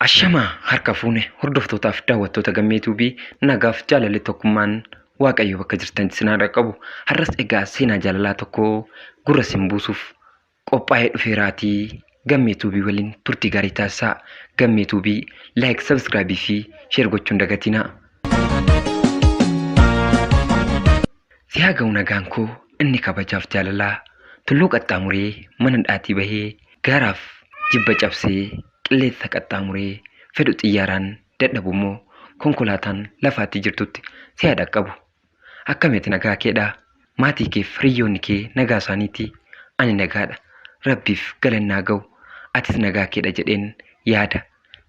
Ashamaa harka fuune hordoftootaaf daawwattoota gammee tuubii nagaaf jaalalli tokkummaan waaqayyo bakka jirtan sinaa dhaqqabu har'as egaa seenaa jaalalaa tokko gurra sin buusuuf qophaa'ee dhufeeraatii gammee tuubii waliin turtii gaarii taasisaa gammee tuubii like subscribe fi share gochuun dagatinaa si haa ga'u nagaan koo inni kabajaaf jaalalaa tulluu qaxxaamuree mana dhaatii bahee gaaraaf jibba cabsee qilleensa qaxxaamuree fedhu xiyyaaraan dadhabu immoo konkolaataan lafaatti jirtutti si haa dhaqqabu Akkamiti nagaa keedha maatii keef hiriyyoonni kee nagaa isaaniiti ani nagaadha rabbiif galanni haa ga'u atis nagaa keedha jedheen yaada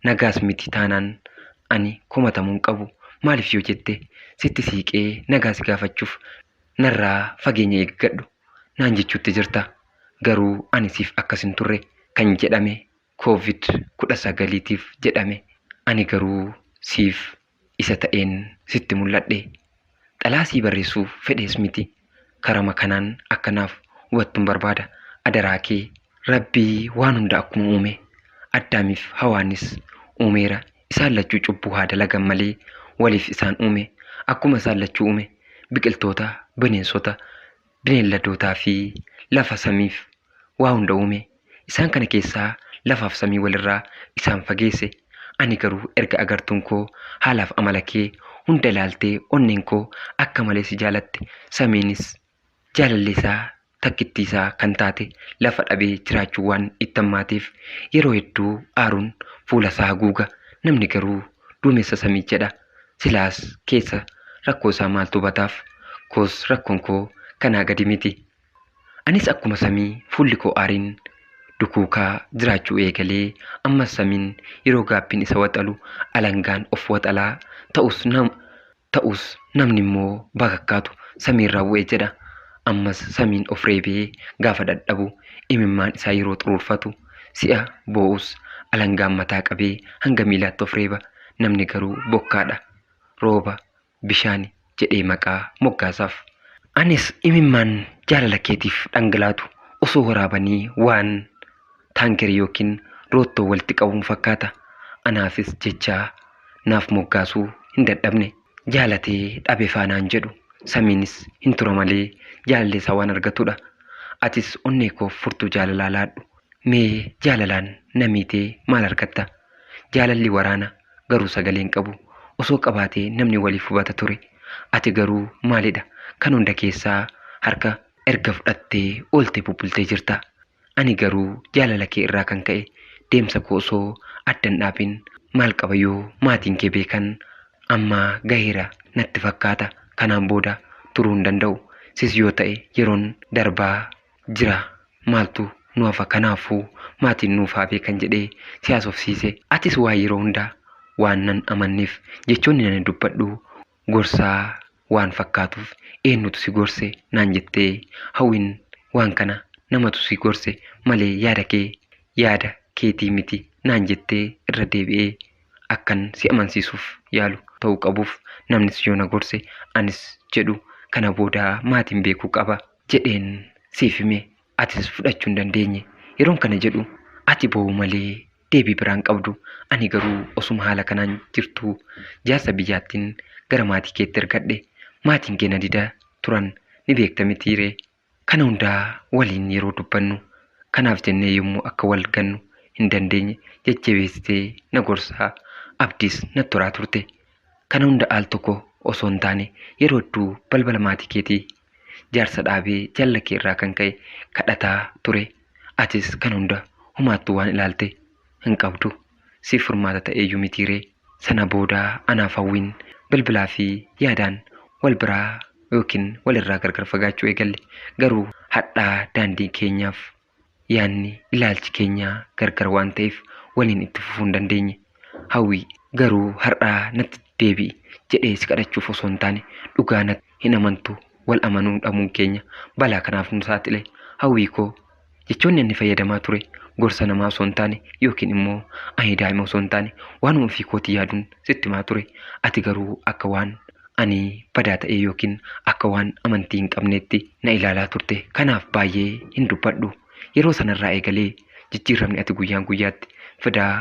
nagaas miti taanaan ani komatamuu hin qabu maaliif yoo jette sitti siiqee nagaa si gaafachuuf narraa fageenya eeggadhu naan jechuutti jirta garuu ani siif akkas hin turre kan jedhame Covid 19 tiif jedhame ani garuu siif isa ta'een sitti mul'adhe. Xalaa sii barreessuuf fedhees miti karama kanaan akka naaf hubattun barbaada adaraa kee. Rabbii waan hunda akkuma uume Addaamiif Hawaanis uumeera isaan lachuu cubbuu haa dalagan malee waliif isaan uume akkuma isaan lachuu uume biqiltoota bineensota bineelladootaa fi lafa samiif waa hunda uume. Isaan kana keessaa lafaaf samii wal irraa isaan fageesse. Ani garuu erga agartuun koo haalaaf amala kee hunda ilaaltee onneen koo akka malee si jaalatte, samiinis jaalallee isaa takkittii isaa kan taate lafa dhabee jiraachuun waan itti hammaateef yeroo hedduu aaruun fuula isaa haguuga. Namni garuu duumessa samii jedha. Silaas keessa rakkoo isaa maaltu bataaf? Koos rakkoon koo kanaa gadi miti. Anis akkuma samii fuulli koo aariin dukuukaa jiraachuu eegalee ammas samiin yeroo gaabbiin isa waxalu alangaan of waxalaa ta'us nam ta'us namni immoo bakakkaatu samiirraa bu'e jedha. Ammas samiin of reebee gaafa dhadhabu imimmaan isaa yeroo xuruurfatu Si'a boo'us alangaan mataa qabee hanga miilaatti of reeba. Namni garuu bokkaadha. Rooba, bishaani jedhee maqaa moggaasaaf. Anis imimmaan jaalala keetiif dhangalaatu osoo waraabanii waan taankerii yookiin roottoo walitti qabuun fakkaata. Anaafis jecha naaf moggaasuu hin dadhabne. jaalatee dhabefaa naan jedhu samiinis hin tura malee jaalallee isaa waan argatudha atis onnee koof furtuu jaalalaa laadhu mee jaalalaan na miitee maal argatta jaalalli waraana garuu sagalee hin qabu osoo qabaatee namni waliif hubata ture ati garuu maalidha kan hunda keessaa harka erga fudhattee oolte bubbultee jirta Ani garuu jaalala kee irraa kan ka'e deemsa koo osoo adda hin dhaabin maal qaba yoo maatiin kee beekan amma gaheera natti fakkaata kanaan booda turuu hin danda'u sis yoo ta'e yeroon darbaa jira maaltu nu hafa kanaafuu maatiin nuuf haa beekan jedhee si haasofsiise atis waa yeroo hundaa waan nan amanneef jechoonni ani dubbadhu gorsaa waan fakkaatuuf eennutu si gorse naan jettee hawwin waan kana namatu si gorse malee yaada kee yaada keetii miti naan jettee irra deebi'ee akkan si amansiisuuf yaalu ta'uu qabuuf namnis yoo na gorse anis jedhu kana booda maatiin beekuu qaba jedheen siif hime atis fudhachuu hin dandeenye yeroon kana jedhu ati boo'uu malee deebii biraa hin qabdu. Ani garuu osuma haala kanaan jirtuu jaarsa biyyaattiin gara maatii keetti ergadhe. Maatiin kee na dida turan ni beekta mitii ree? Kana hundaa waliin yeroo dubbannu kanaaf jennee yommuu akka wal gannu hin dandeenye jajjabeessitee na gorsaa abdiis na turaa turte. Kana hunda al tokko osoo hin taane yeroo hedduu balbala maatii keetii Jaarsa dhaabee jaalala kee irraa kan ka'e kadhataa ture. Atis kan hunda humaattuu waan ilaalte hin qabdu. Siif furmaata ta'eeyyuu mitiiree. Sana booda anaaf hawwiin bilbilaa fi yaadaan wal biraa yookiin walirraa gargar fagaachuu eegalle. Garuu hadhaa daandii keenyaaf. yaadni ilaalchi keenya gargar waan ta'eef waliin itti fufuu hin dandeenye. Hawwii garuu har'aa natti deebi'i jedhee si kadhachuuf osoo hin taane dhugaa natti hin amantu wal amanuu dhabuun keenya balaa kanaaf nu saaxile. Hawwii koo jechoonni inni fayyadamaa ture gorsa namaa osoo hin taane yookiin immoo ani daa'ima osoo hin taane waanuma ofii kootii yaaduun sitti himaa ture. Ati garuu akka waan ani badaa ta'ee yookiin akka waan amantii hin qabneetti na ilaalaa turte. Kanaaf baay'ee hin dubbadhu. Yeroo sanarraa eegalee jijjiirramni ati guyyaan guyyaatti fidaa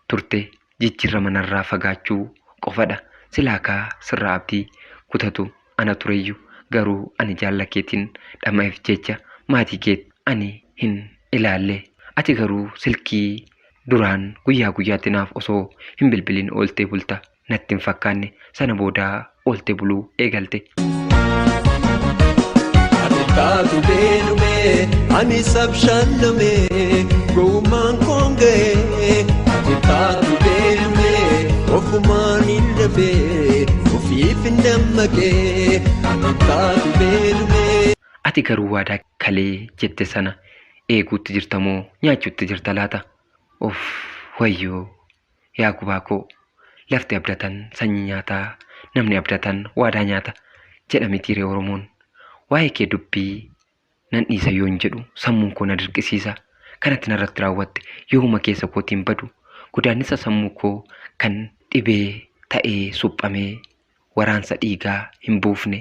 turte jijjiirrama narraa fagaachuu qofadha. Silaa kaa sirraa abdii kutatu ana tureyyu garuu ani jaalla keetiin dhama'eef jecha maatii kee ani hin ilaalle. Ati garuu silkii duraan guyyaa guyyaatti naaf osoo hin bilbiliin ooltee bulta. natti hin fakkaanne sana booda oolte buluu eegalte. Taatu beenumee ani sabshaanamee gowwummaan koon ga'ee ati taatu beenumee ofumaan hin dhabee ofiif hin dammaqee ati taatu beenumee. Ati garuu waadaa kalee jette sana eeguutti jirta moo nyaachuutti jirta laata? Of wayyoo Yaa gubaa koo! Lafti abdatan sanyii nyaata, namni abdatan waadaa nyaata jedha mitiiree Oromoon? Waa'ee kee dubbii nan dhiisa yoon jedhu sammuun koo na dirqisiisa. Kan ati narratti raawwatte yoomuma keessa kootiin badu. Godaannisa sammuu koo kan dhibee ta'ee suphamee waraansa dhiigaa hin buufne,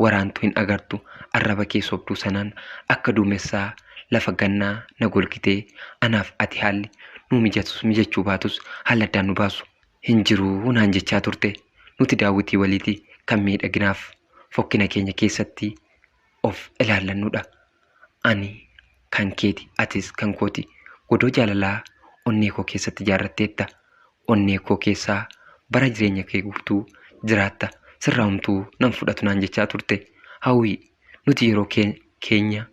waraantu hin agartu, arraba kee sobduu sanaan akka duumessaa lafa gannaa na golgitee, anaaf ati haalli nuu mijatus mijachuu baatus haalli addaan nu baasu hin jiru naan jechaa turte. Nuti daawwitii waliiti kan miidhaginaaf fokkina keenya keessatti of ilaallannuudha. Ani kan keeti, atis kan kooti. Godoo jaalalaa onnee koo keessatti ijaarratteetta. Onnee koo keessaa bara jireenya kee guutuu jiraatta. Sirraa homtuu nan fudhatu naan jechaa turte. Hawwii, nuti yeroo keenya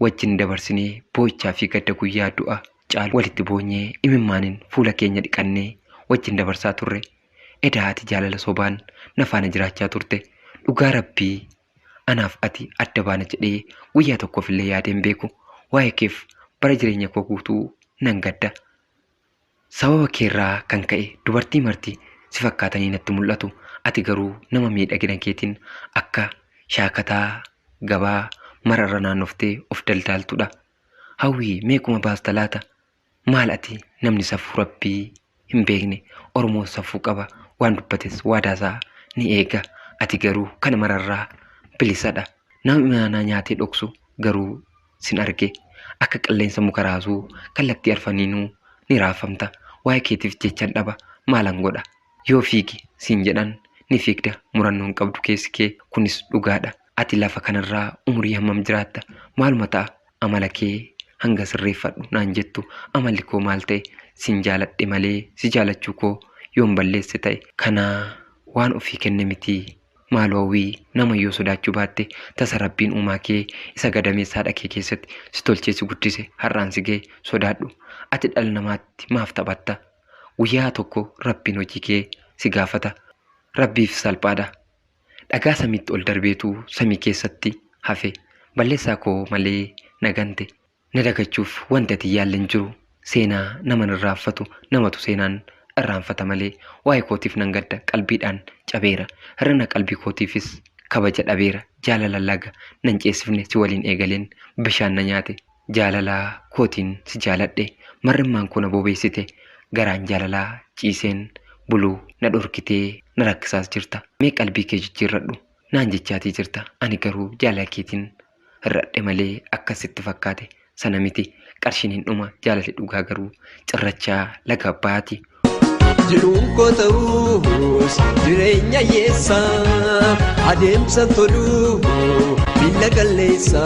wajjin dabarsinee boo'ichaa fi gadda guyyaa du'a caalu walitti boonyee imimmaaniin fuula keenya dhiqannee wajjin dabarsaa turre. Edaa ati jaalala sobaan na faana jiraachaa turte. Dhugaa rabbii Anaaf ati adda baana jedhee guyyaa tokkoof illee yaadee hin beeku. Waa'ee keef bara jireenya koo guutuu nan gadda. Sababa keerraa kan ka'e dubartii marti si fakkaatanii natti mul'atu. Ati garuu nama miidhagina keetiin akka shaakataa gabaa mararra naannoftee of daldaaltudha. Hawwii meequma baasta laata? Maal ati namni safuu rabbii hin beekne oromoo safuu qaba waan dubbates waadaa isaa ni eega ati garuu kana mararraa bilisadha nama imaanaa nyaatee dhoksu garuu sin arge akka qilleensa muka raasuu kallattii arfaniinuu ni raafamta waa'ee keetiif jechan dhaba maalan godha yoo fiigi siin jedhan ni fiigda murannoon qabdu keessi kee kunis dhugaadha Ati lafa kanarraa umurii hammam jiraatta? Maaluma ta'a amala kee hanga sirreeffadhu naan jettu? Amalli koo maal ta'e? Sin jaaladhe malee si jaalachuu koo yoon balleesse ta'e. Kana waan ofii kenne miti. Maaloo hawwii, nama yoo sodaachuu baatte, tasa Rabbiin uumaa kee isa gadameessa haadha kee keessatti si tolchee si guddise har'aan si ga'e sodaadhu. Ati dhala namaatti maaf taphatta? Guyyaa tokko Rabbiin hojii kee si gaafata. Rabbiif salphaadha. Dhagaa samiitti ol darbeetu samii keessatti hafe. Balleessaa koo malee na gante. Na dagachuuf wanti ati hin yaalle hin jiru. Seenaa naman irraanfatu namatu seenaan irraanfata malee. Waa'ee kootiif nan gadda. Qalbiidhaan cabeera. Hir'ina qalbii kootiifis kabaja dhabeera. Jaalala laga nan ceesifne si waliin eegaleen bishaan na nyaate. jaalala kootiin si jaaladhe mar'immaan koo na bobeessite garaan jaalala ciiseen bulu na dhorkitee na rakkisaas jirta mee qalbii kee jijjiirradhu naan jechaatii jirta ani garuu jaalala keetiin hir'adhe malee akkas sitti fakkaate sana miti qarshiin hin dhuma jaalalli dhugaa garuu cirrachaa laga abbaati Jiruun koo ta'us jireenya hiyyeessa adeemsa tolu miila qalleessa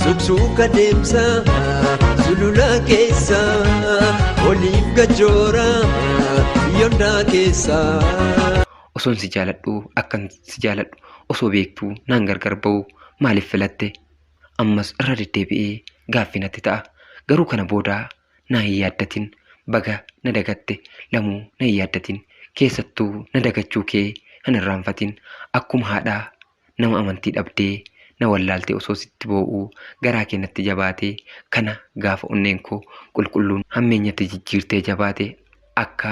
suksuuka deemsa sulula keessa oliif gajoora yondaa keessa. Osoon si jaaladhu akkan si jaaladhu osoo beektuu naan gargar ba'u maaliif filatte? Ammas irra deddeebi'ee gaaffii natti ta'a. Garuu kana booda na hin yaaddatin baga na dagatte lamuu na hin yaaddatin keessattuu na dagachuu kee hin irraanfatin akkuma haadha nama amantii dhabdee na wallaalte osoo sitti boo'uu garaa kee natti jabaate kana gaafa onneen koo qulqulluun hammeenyatti jijjiirtee jabaate akka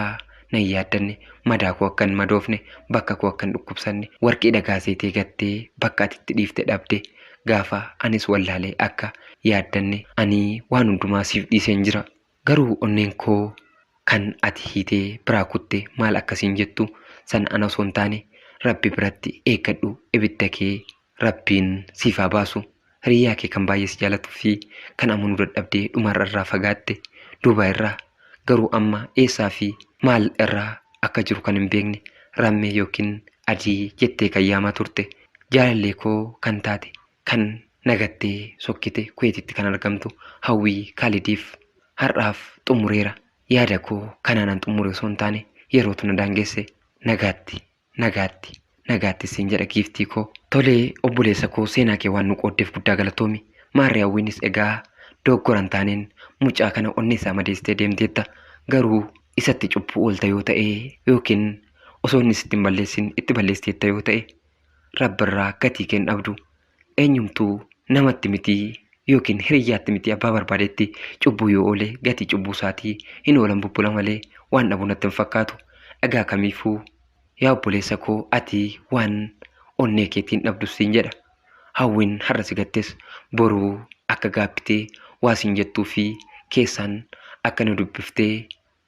nan yaaddanne, madaa koo akka hin madoofne, bakka koo akka hin dhukkubsanne, warqii dhagaa seetee gattee bakka ati itti dhiifte dhabde gaafa anis wallaale akka yaaddanne ani waan hundumaa siif dhiiseen jira. Garuu onneen koo kan ati hiitee biraa kutte maal akka siin jettu sana ana osoo hin taane Rabbi biratti eeggadhu ibidda kee Rabbiin siif haa baasu hiriyyaa kee kan baay'ee si jaalatu fi kan amanuu dadhabdee dhumarra irraa fagaatte Duubaay irraa garuu amma eessaa fi maal irraa akka jiru kan hin beekne Rammee yookiin Adii jettee kan yaamaa turte jaalallee koo kan taate kan na gattee sokkite Kuweetitti kan argamtu Hawwii Kaalidiif har'aaf xumureera yaada koo kanaanan xumure osoo hin taane yerootu na daangesse nagaatti. Nagaatti, nagaatti siin jedha giiftii koo. Tole obboleessa koo seenaa kee waan nu qooddeef guddaa galatoomi. Maarree hawwiinis egaa dogoggora hin taaneen mucaa kana onnee isaa madeessitee deemteetta. Garuu isatti cubbuu oolta yoo ta'e yookiin osoo inni sitti hin balleessin itti balleessiteetta yoo ta'e rabbirraa gatii kee hin dhabdu. eenyumtuu namatti mitii yookiin hiriyyaatti mitii abbaa barbaadetti cubbuu yoo oole gatii cubbuu isaatii hin oolan bubbula malee waan dhabu natti hin fakkaatu dhagaa kamiifuu yaa obboleessa koo ati waan onnee keetiin dhabdus siin jedha hawwiin har'a si gattes boruu akka gaabbitee waa siin jettuu fi keessaan akka nu dubbiftee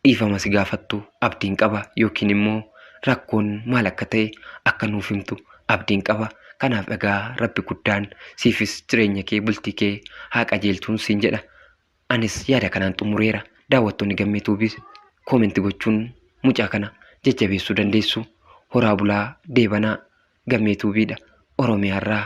dhiifama si gaafattu abdiin qaba yookiin immoo rakkoon maal akka ta'e akka nuuf himtu abdiin qaba. Kanaaf egaa rabbi guddaan siifis jireenya kee bultii kee haa qajeelchuun siin jedha. Anis yaada kanaan xumureera. Daawwattoonni gammee tuubis koomenti gochuun mucaa kana jajjabeessuu dandeessu. Horaa bulaa deebanaa gammee tuubiidha Oromiyaarraa.